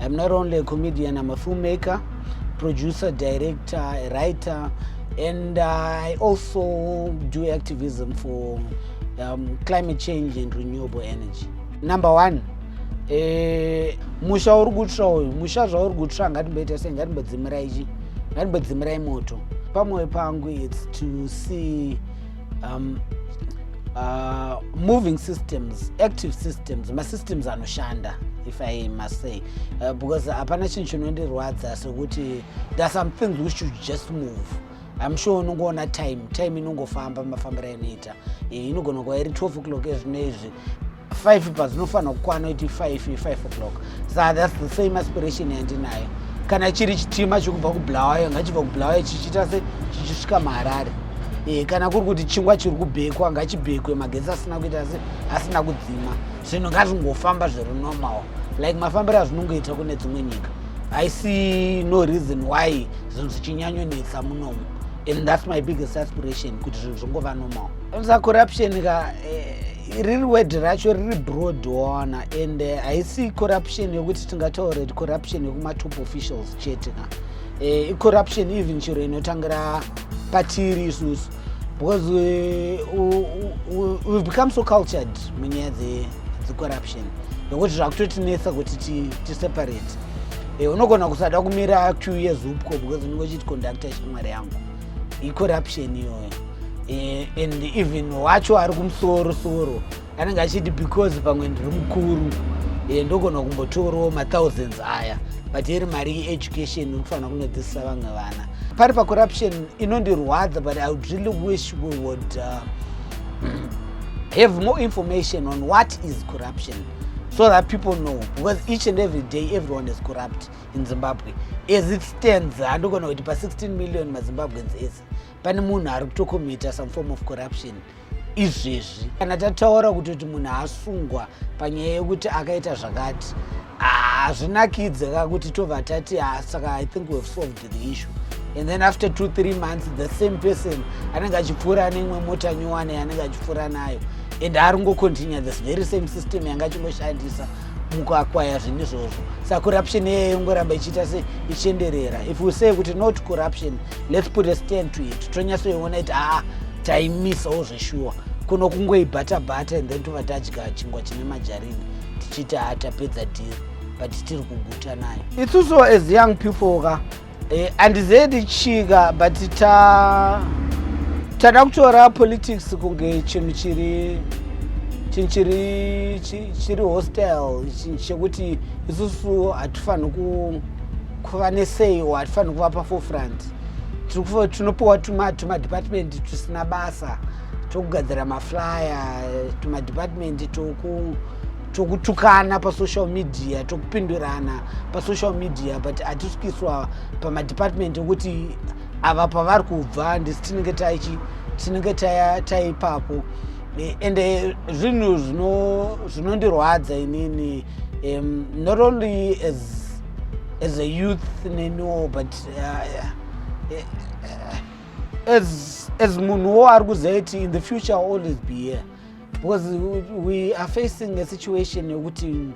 I'm not only a comedian, I'm a filmmaker, producer, director, a writer, and I also do activism for um, climate change and renewable energy. Number one, eh, musha uri kutsva uyu musha zvauri kutsva ngatimboita sei ngatimbodzimira ichi ngatimbodzimirai moto pamwoyo pangu its to see um, uh, moving systems active systems masystems anoshanda if i must say uh, because hapana chinhu chinondirwadza sokuti there are some things which should just move im sure unongoona time time inongofamba mafambiro ainoita eh, inogona kuva iri 12 o'clock ezvino izvi 5 pazinofanira kukwana kuti 5 5 o'clock sa thats the same aspiration yandinayo kana chiri chitima chekubva kubulawayo ngachibva kubulawayo chichiita se chichisvika maharare e, kana kuri kuti chingwa chiri kubhekwa ngachibhekwe magetsi asina kuita se asina kudzima zvinhu ngazvingofamba zviri normal like mafambiro azvinongoita kune dzimwe nyika i see no reason why zvinhu zvichinyanyonetsa munomu and thats my biggest aspiration kuti zvinhu zvingova normal sa corruption ka eh, riri word racho riri broad waona and eh, haisi uh, corruption yekuti tingataura kuti corruption yekumatop officials chete ka eh, icorruption uh, even chiro inotangira patiri isusu because we, we, we, we've become so cultured munyaya dzecorruption yekuti zvakutotinetsa kuti tiseparate ti eh, unogona kusada kumira queue yezupco because unenge uchiti conductor chimwari yangu icorruption iyoyo eh, and even wacho ari kumusoro soro anenge achiti because pamwe ndiri mukuru eh, ndogona kumbotorawo mathousands aya but iri mari yeeducation inofanira kunodzidzisa vamwe vana pari pacorruption inondirwadza but i would really wish we would uh, have more information on what is corruption so that people know because each and every day everyone is corrupt in zimbabwe as it stands handogona kuti pa16 million mazimbabweans ese pane munhu ari kutokomita some form of corruption izvezvi kana tataura kuti kuti munhu asungwa panyaya yekuti akaita zvakati hazvinakidze ka kuti tobva tati ah, saka i think wehave solved the issue and then after two three months the same person anenge achipfuura neimwe mota nyowani yanenge achipfuura nayo and ari ngocontinue this very same system yanga achingoshandisa mukuakwaya zvinhu izvozvo sa corruption iyeye ingoramba ichiita se ichienderera if we say kuti not corruption let's put a stand to it tonyatsoiona iti haa taimisawo zveshuwa kuno kungoibata bata and then tova tadya chingwa chine majarini tichiti haa tapedza dhiri but tiri kuguta nayo itusuwo as young people ka Eh, andizedi chika but ta tada kutora politics kunge chinhu chiri chinhu chiri chiri hostel chekuti isusu hatifaniri kuva nesei o hatifaniri kuva pafofront tinopiwa tumadepartment tusina basa tokugadzira maflyer tumadepartment toku tokutukana pasocial media tokupindurana pasocial media but hatisukiswa pamadepartment okuti ava pavari kubva ndisi tinenge taichi tinenge taipapo eh, and eh, zvinhu zvinondirwadza inini um, not only as, as a youth neniwo but uh, uh, as, as munhuwo ari kuziva kuti in the future always be here because we are facing a situation yekuti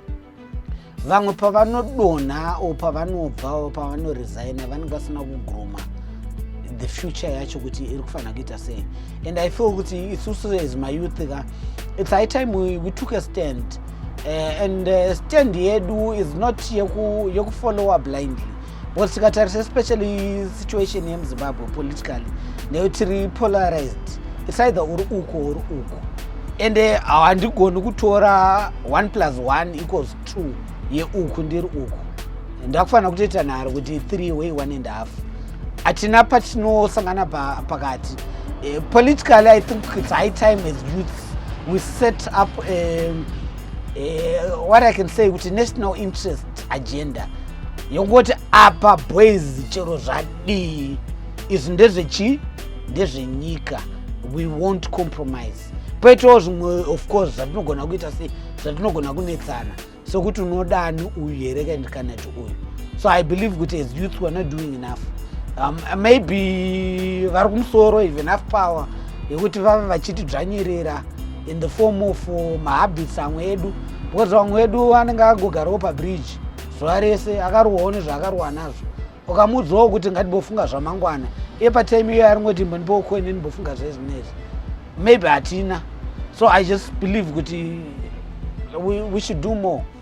vamwe pavanodonha o pavanobva o pavanoresigna vanenge vasina kugroma the future yacho kuti iri kufanira kuita sei and i feel kuti isusu as mayouth ka its high time we, we took a stand uh, and uh, stand yedu is not yekufollowa yeku blindly Well, tikatarisa especially situation yemuzimbabwe politically neyo tiri polarized its either uri uko uri uko ende handigoni kutora one plus one equals two yeuku ndiri uku ndakufanira kutoita nharo kuti three way one and half hatina patinosangana pakati eh, politically i think its high time as youths we set up um, uh, what i can say kuti national interest agenda yokungoti apa boys chero zvadii izvi ndezvechii ndezvenyika we won't compromise poitawo zvimwe of course zvatinogona kuita sei zvatinogona kunetsana sokuti unodani uyu here kandikanati uyu so i believe kuti as youth weare not doing enough um, maybe vari kumusoro even af power yekuti vave vachiti dzvanyirira in the form of uh, mahabits amwe edu because vamwe vedu anenge agogarawo pabridge zuva rese akarohwawo nezvaakarohwa nazvo ukamuudzawo kuti ngatibhofunga zvamangwana iye patime iyoyo aringoti mbondipowo koine ndimbofunga zvezi nezi maybe hatina so i just believe kuti we, we should do more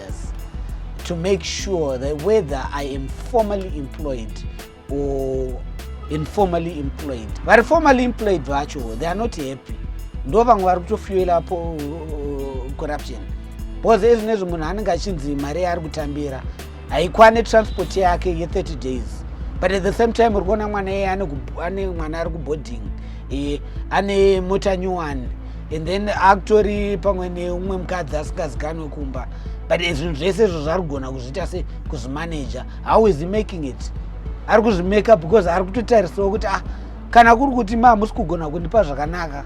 years to make sure that whether I am formally employed or informally employed. Vari formally employed vacho, they are not happy. Ndo vamwe vari kutofuela po uh, corruption. Because ezvi nezvo munhu anenge achinzi mari yaari kutambira haikwane transport yake ye 30 days. But at the same time uri kuona mwana iye ane mwana ari kuboarding e, ane mota nyowani and then akutori pamwe neumwe mukadzi asingazikanwe kumba but zvinhu zvese izvo zvari kugona kuzviita se kuzvimaneja how is he making it ari kuzvimeka because ari kutotarisawo kuti ah kana kuri kuti ma hamusi kugona kundipa zvakanaka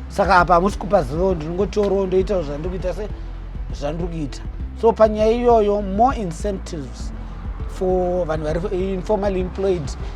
saka apa hamusi kupa zivo ndinongotorawo ndoitawo zvandiri kuita se zvandiri kuita so panyaya iyoyo more incentives for vanhu vari informally employed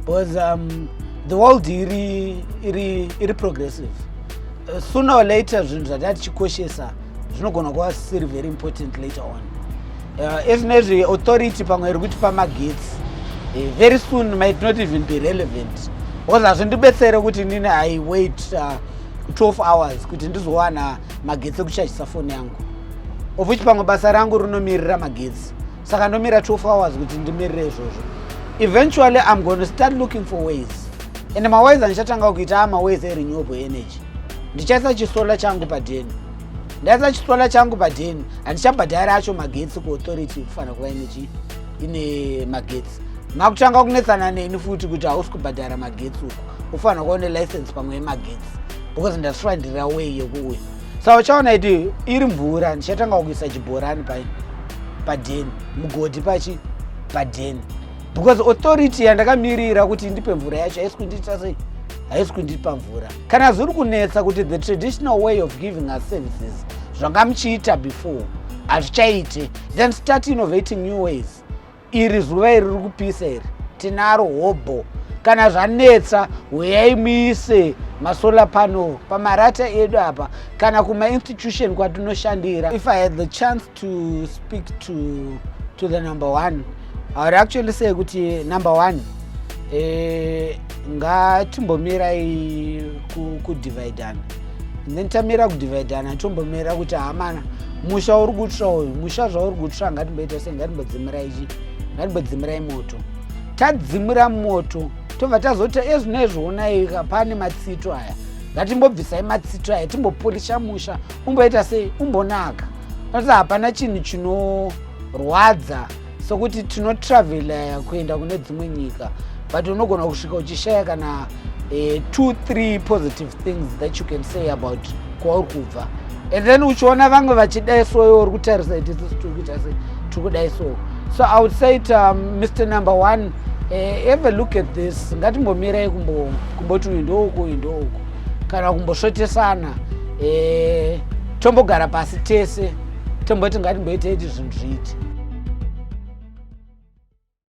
because um, the world iri, iri, iri progressive uh, sooner or later zvinhu zvataa tichikoshesa zvinogona kuva siri very important later on uh, ezvinezvi authority pamwe iri kutipa magetsi uh, very soon might not even be relevant because hazvindibetsere kuti nini i wait uh, 12 hours kuti ndizowana magetsi ekuchachisa foni yangu of which pamwe basa rangu rinomirira magetsi saka ndomira 12 hours kuti ndimirire izvozvo eventually i'm going to start looking for ways and maways andichatanga kuita amaways erenewable energy ndichaisa chisola changu padheni ndaisa chisola changu padheni handichabhadhari acho magetsi kuauthority kufanira kuva inechi ine magetsi makutanga kunetsana neni futi kuti hausi kubhadhara magetsi uku ufanira kuva une license pamwe yemagetsi because ndasvira ndiri away yekuuya sa uchaona iti iri mvura ndichatanga kuisa chibhorani pa padheni mugodhi pachi padheni because authority yandakamirira kuti ndipe mvura yacho haisi kundiita sei haisi kundipa mvura kana zviri kunetsa kuti the traditional way of giving us services zvanga muchiita before hazvichaite then start innovating new ways iri zuva iri riri kupisa iri tinaro hobho kana zvanetsa huyai muise masolar panel pamarata edu apa kana kumainstitution kwatinoshandira if i had the chance to speak to, to the number one i would actually say kuti number one eh, ngatimbomirai kudividana ku then tamira kudivhaidhana tombomira kuti hamana musha uri kutsva uyu musha zvauri kutsva ngatimboita sei ngatimbodzimirai chi ngatimbodzimirai moto tadzimira moto tobva tazoti ezvino ezvionai pane matsito aya ngatimbobvisai matsito aya timbopolisha musha umboita sei umbonaka nokuti hapana chinhu chinorwadza sokuti tinotravela kuenda kune dzimwe nyika but unogona kusvika uchishaya kana eh, two three positive things that you can say about kwauri kubva and then uchiona vamwe vachidai so iwe uri kutarisa iti sisi tiri kuita se tiri kudai so so i would say it um, mr number one eh, have a look at this ngatimbomirai kumboti uyu ndouku uyu ndouku kana kumbosvotesana eh, tombogara pasi tese tomboti ngatimboitei kuti zvinhu zviiti